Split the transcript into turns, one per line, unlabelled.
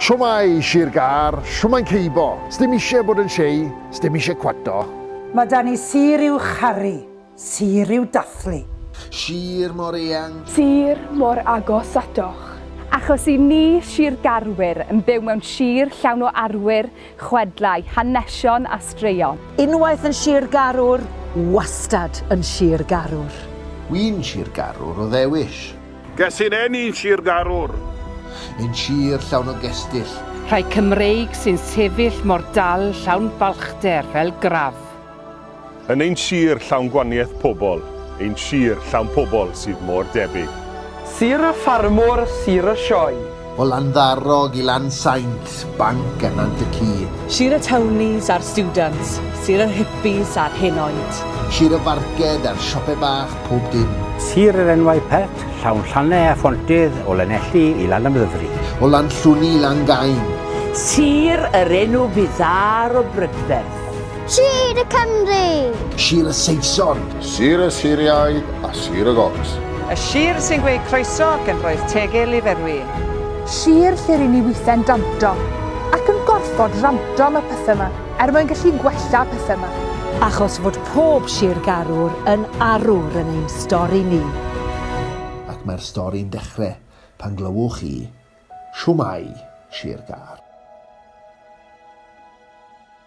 Shwmae, Sir Gâr, shwmae'n ceibo? Sdim isie bod yn shei, sdim isie cwato. Mae 'da ni
sir i'w charu, sir i'w dathlu. Sir
mor eang. Sir mor
agos atoch. Achos i ni Sir Garwyr yn byw mewn sir llawn o arwyr, chwedlau, hanesion a straeon. Unwaith yn Sir
Garwr, wastad yn Sir Garwr. Wi'n
Sir Garwr o ddewis. Ges i'n eni
yn Sir Garwr. Yn
sir llawn o gestyll. Rhai Cymreig
sy'n sefyll mor dal llawn balchder fel grav. Yn
ein sir llawn gwanieth pobl. Ein sir llawn pobl sydd mor debyg. Sir y
ffarmwr, sir y sioe. O Landdarog
i Lansaint, Banc a Nant y Ci. Sir y Townies
a'r Stiwdants, Sir yr Hippies a'r Hen Oed. Sir y Farced
a'r Siope Bach, pob dim. Sir yr Enwau
Pert, Llawn Llannau a Phontydd, o Lanelli i Lanymddyfri. O Lanllwni
i Langain. Sir
yr Enw Byddar o Brydferth. Sir y
Cymru! Sir y
Saeson! Sir y
Siriaid a Sir y Gots! Y sir sy'n
gweud croeso ac yn rhoi'r tegil i ferwi. Sir
lle ry'n ni withen danto ac yn gorfod ranto am y pethe 'ma er mwyn gallu gwella y pethe 'ma. Achos fod
pob sir garwr yn arwr yn ein stori ni.
Ac mae'r stori'n dechre pan glywwch chi Shwmae, Sir Gar.